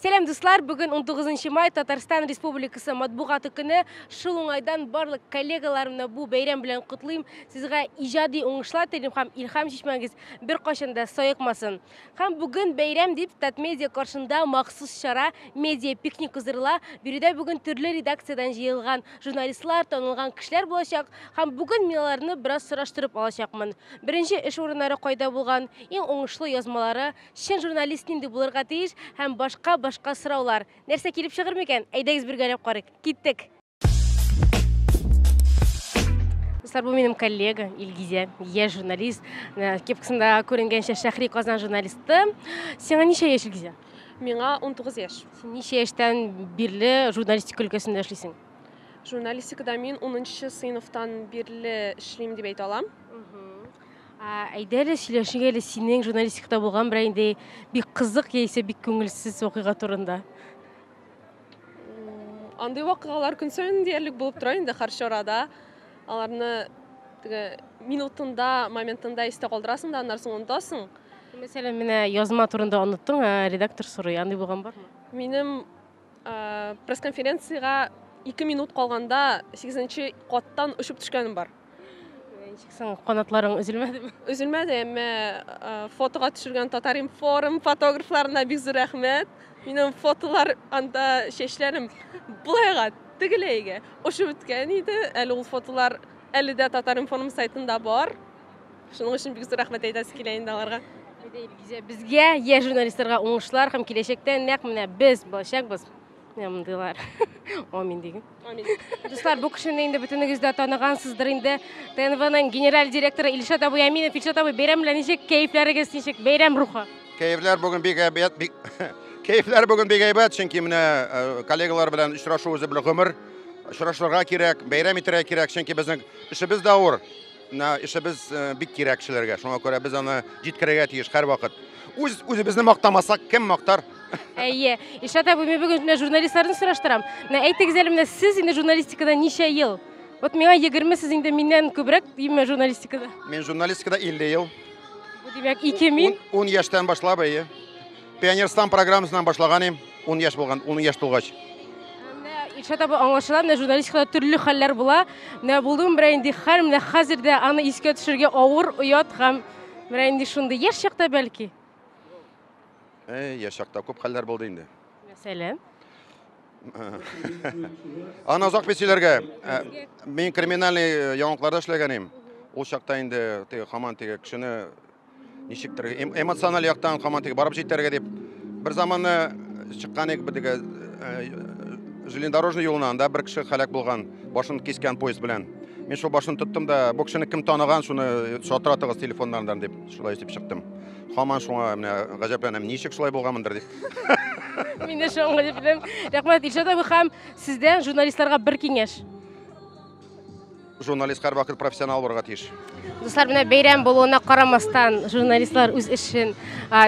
Сәлам дуслар, бүген 19 май Татарстан Республикасы матбугаты көне. Шул уңайдан барлык коллегаларымны бу бәйрәм белән котлыйм. Сезгә иҗади уңышлар телим һәм илһам чишмәгез беркайчан да саекмасын. Һәм бүген бәйрәм дип Татмедиа каршында махсус чара медиа пикник уздырыла. Биредә бүген төрле редакциядән җыелган журналистлар, танылган кешеләр булачак һәм бүген мин аларны бераз сораштырып алачакмын. Беренче эш урыннары кайда булган, иң уңышлы язмалары, Чын журналист нинди булырга тиеш һәм башка башка сораулар. Нәрсә килеп чыгыр микән? Әйдәгез бергәләп карыйк. Киттек! Дуслар, бу минем коллега Илгизә, яшь журналист. Э, Кепкасында күренгәнчә Шәхри Казан журналисты. Сиңа ничә яшь Илгизә? Миңа 19 яшь. Син ничә яшьтән бирле журналистика өлкәсендә эшлисең? Журналистикада мин 10 сыйныфтан бирле эшлим дип әйтә алам. Әйдә әле сөйләшик әле синең журналистикада булган берәр инде бик кызык яисә бик күңелсез вакыйга турында. Андый вакыйгалар көн саен диярлек булып тора инде һәр чарада. Аларны теге минутында, моментында истә калдырасың да, аннары соң онытасың. Мәсәлән, менә язма турында оныттың, ә редактор сорый, андый булган бармы? Минем пресс-конференциягә 2 минут калганда 8 каттан очып төшкәнем бар. Ничек соң, канатларың өзелмәдеме? Өзелмәде, әмма фотога төшергән Татар информ фотографларына бик зур рәхмәт. Минем фотолар анда чәчләрем булайга тегеләйгә ошып беткән иде. Әле ул фотолар әле дә Татар информ сайтында бар. Шуның өчен бик зур рәхмәт әйтәсе килә инде аларга. Безгә, я журналистларга уңышлар һәм киләчәктә нәкъ менә без булачакбыз. Менә мондыйлар. Амин дигән. Амин. Дуслар, бу кешене инде бөтенегез дә таныгансыздыр инде. ТНВның генераль директоры Илшат абый Аминов. Илшат абый, бәйрәм белән ничек кәефләрегез ничек? Бәйрәм рухы. Кәефләр бүген бик әйбәт, бик кәефләр бүген бик әйбәт, чөнки менә э, коллегалар белән очрашу үзе бер гомер. Очрашырга кирәк, бәйрәм итәргә кирәк, чөнки безнең эшебез дә авыр. Менә эшебез бик кирәк кешеләргә, шуңа күрә без аны җиткерергә тиеш һәрвакыт. Үз үзебезне мактамасак, кем мактар? Әйе. Ишат абый, мин бүген менә журналистларны сораштырам. Менә әйтегез әле, менә сез инде журналистикада ничә ел? Вот миңа 20 сез инде миннән күбрәк именно журналистикада. Мин журналистикада 50 ел. Бу димәк 2 мин. 10 яшьтән башлап, әйе. Пионерстан программасынан башлаган идем, 10 яшь булган, 10 яшь тулгач. Илшат абы аңлашыла, менә журналистикада төрле хәлләр була. Менә булдым берәй инде хәл, менә хәзер дә аны искә төшергә авыр, оят һәм менә инде шундый яшь чакта бәлки. Э, яшь чакта күп хәлләр булды инде. Мәсәлән? Аны озак бит сөйләргә. Ә, Мин криминальный э, яңалыкларда эшләгән идем. Ул чакта инде теге хаман теге кешене Ничектер эмоциональ яктан командага барып җитәргә дип бер заманы чыккан идек бедеге э, железнодорожный юлына, анда бер кеше халәк булган, башын кискән поезд белән. Мин шул башын тоттым да, бу кешене кем таныган, шуны шалтыратыгыз телефоннардан дип, шулай итеп чыктым. Хаман шуңа менә гаҗәпләнәм, ничек шулай булганмындыр дип. Мин дә шуңа гаҗәпләнәм. Рәхмәт, Илшат абый һәм сездән журналистларга бер киңәш. Журналист һәрвакыт профессионал булырга тиеш. Дуслар, менә бәйрәм булуына карамастан, журналистлар үз эшен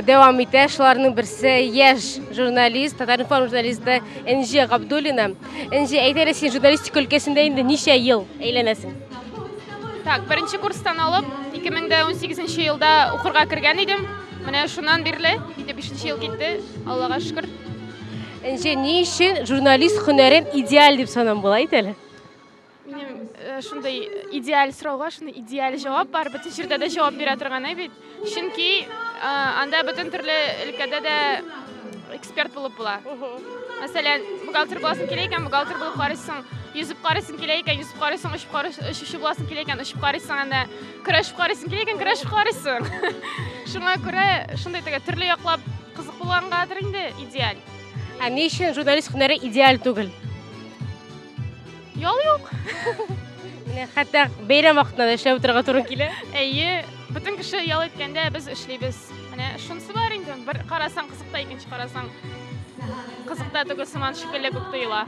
дәвам итә. Шуларның берсе яшь журналист, Татаринформ журналисты Энҗе Габдуллина. Энҗе, әйтәле син журналистика өлкәсендә инде ничә ел әйләнәсең? Так, беренче курстан алып, 2018 елда укырга кергән идем. Менә шуннан бирле, инде 5 ел китте, Аллага шөкер. Энҗе, ни өчен журналист һөнәрен идеаль дип санам була, әйтәле? Минем э, шундый идеаль сорауга шундый идеаль җавап бар. Бөтен җирдә дә җавап бирә торган бит. Чөнки э, анда бөтен төрле өлкәдә дә эксперт булып була. Мәсәлән, бухгалтер буласың килә икән, бухгалтер булып карыйсың. Йөзеп карыйсың килә икән, йөзеп карыйсың, очып карыйсың, очучы буласың килә икән, очып карыйсың анда. Көрәшеп карыйсың килә икән, көрәшеп карыйсың. Шуңа күрә шундый теге төрле яклап кызык булгангадыр инде идеаль. Ә ни өчен журналист һөнәре идеаль түгел? Ял юк. Менә хәтта бәйрәм вакытында да эшләп утырырга туры килә. Әйе, бөтен кеше ял иткәндә без эшлибез. Менә шунысы бар инде. Бер карасаң кызыкта, икенче карасаң кызыкта түгел сыман шикелле күк тоела.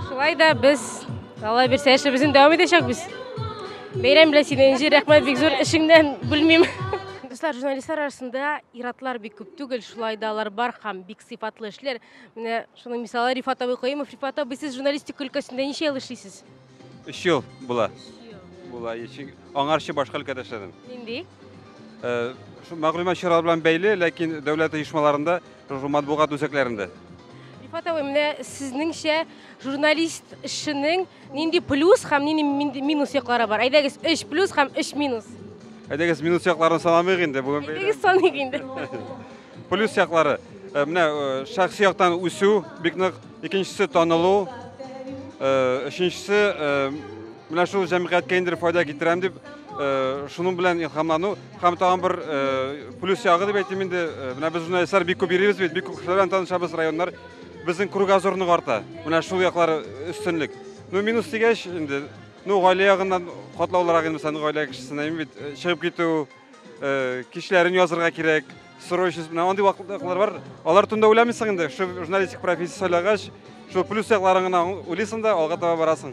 Шулай да без Алла бирсә эшебезне дәвам итәчәкбез. Бәйрәм белән сине Энҗе, рәхмәт бик зур эшеңнән бүлмим. Дуслар, журналистлар арасында иратлар бик күп түгел, шулай да алар бар һәм бик сыйфатлы эшләр. Менә шуның мисалы Рифат абый Каюмов. Рифат абый, сез журналистика өлкәсендә ничә ел эшлисез? Өч ел була. Була. Чөнки аңарчы башка өлкәдә эшләдем. Нинди? Э, шул мәгълүмат чаралары белән бәйле, ләкин дәүләт оешмаларында, шул матбугат үзәкләрендә. Рифат абый, менә сезнеңчә журналист эшенең Нинди плюс һәм нинди минус яклары бар? Әйдәгез, өч плюс һәм өч минус. Әйдәгез, минус якларын санамыйк инде бүген. Әйдәгез, саныйк инде. Плюс яклары. Э, менә э, шәхси яктан үсү бик нык, икенчесе танылу, э, өченчесе менә шул җәмгыятькә инде файда китерәм дип, шуның белән илһамлану һәм тагын бер плюс ягы дип әйтим инде, менә без журналистлар бик күп йөрибез бит, бик күп кешеләр белән танышабыз, районнар Безнең кругозорның арты. Менә шул яклар өстенлек. Ну, минус дигәч, инде, ну, гаилә ягыннан катлаулырак инде, мәсәлән, гаилә кешесенә бит э, чыгып китү, э, кичләрен язырга кирәк, срочность белән андый вакытлар бар. Алар турында уйламыйсың инде, шул журналистик профессия сайлагач, шул плюс якларын гына уйлыйсың да алга таба барасың.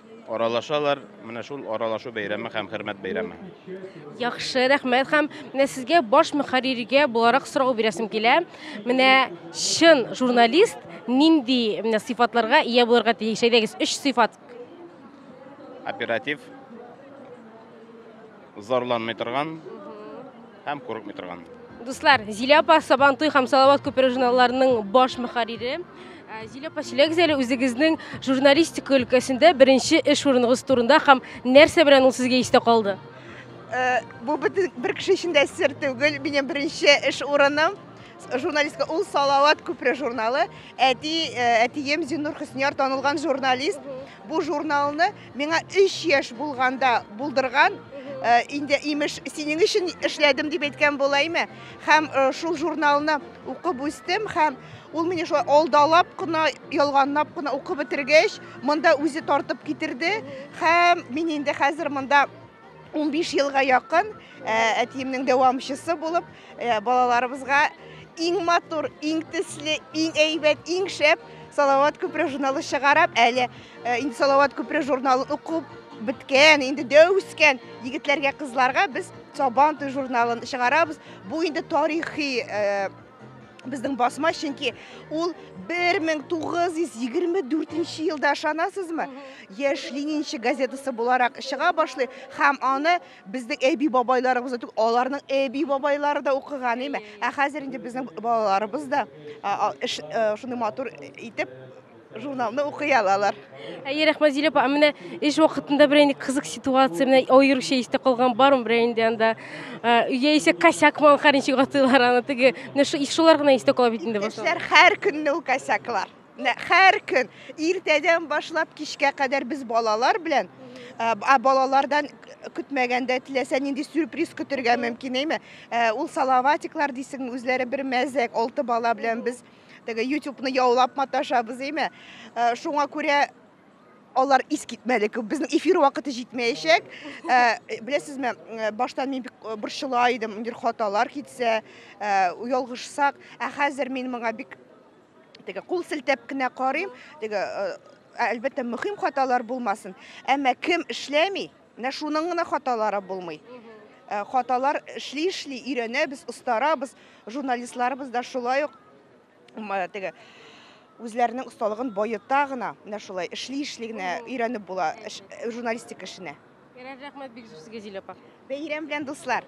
Аралашалар, менә шул аралашу бәйрәме һәм хөрмәт бәйрәме. Яхшы, рәхмәт һәм менә сезгә баш мөхәрриргә буларак сорау бирәсем килә. Менә чын журналист нинди менә сыйфатларга ия булырга тиеш? Әйдәгез, өч сыйфат. Оператив, зарланмый торган, Һәм курыкмый торган. Дуслар, Зилә апа Сабантуй һәм Салават күпере журналларының баш мөхәррире. Ә, Зилә апа, сөйләгез әле үзегезнең журналистика өлкәсендә беренче эш урыныгыз турында һәм нәрсә белән ул сезгә истә калды? Э, бу бөтен бер кеше өчен дә сер түгел. Минем беренче эш урыным с- журналистка ул Салават күпере журналы. Әти, э, әтием Зиннур Хөснияр танылган журналист. Бу журналны Миңа өч яшь булганда булдырган, инде имеш синең өчен эшләдем дип әйткән булаймы? Һәм шул журналны укып үстем һәм ул мине шулай алдалап кына, ялганлап кына укып бетергәч, монда үзе тартып китерде һәм мин инде хәзер монда 15 елга якын әтиемнең дәвамчысы булып, балаларыбызга иң матур, иң төсле, иң әйбәт, иң шәп Салават күпре журналы чыгарып, әле инде Салават күпре журналын укып беткән, инде дәү үскән егетләргә, кызларга без Сабан туй журналын чыгарабыз. Бу инде тарихи Безнең басма, чөнки ул 1924 елда ышанасызмы? Яшь Ленинче газетасы буларак чыга башлый һәм аны безнең әби бабайларыбыз түгел, аларның әби бабайлары да укыган име. Ә хәзер инде безнең балаларыбыз да шуны матур итеп Журналны укый алалар. Әйе, рәхмәт Зилә апа. Менә эш вакытында бер инде кызык ситуация, менә аеруча истә калган бармы бер инде анда? Яисә косяк мал хәрничек атыйлар аны теге. Менә шу шулар гына истә кала бит инде башлар. Эшләр һәр көнне ул косяклар. Һәр көн иртәдән башлап кичкә кадәр без балалар белән ә балалардан көтмәгәндә теләсә нинди сюрприз көтергә мөмкин әйме? Ул салаватиклар дисең, үзләре бер мәзәк, алты бала белән без теге ютубны яулап маташабыз әйме э, шуңа күрә алар ис китмәле күп безнең эфир вакыты җитмәячәк э, беләсезме э, баштан мин бик борчыла идем нидер хаталар китсә ялгышсак ә хәзер мин моңа бик теге кул селтәп кенә карыйм теге әлбәттә мөһим хаталар булмасын әмма кем эшләми Менә шуның гына хаталары булмый. Э, хаталар эшли-эшли өйрәнәбез, остарабыз. Журналистларыбыз да шулай ук теге үзләренең осталыгын баета гына, менә шулай эшли-эшли генә өйрәнеп була э, журналистик эшенә. Ярар, рәхмәт бик зур сезгә, Зилә апа. Бәйрәм белән, дуслар!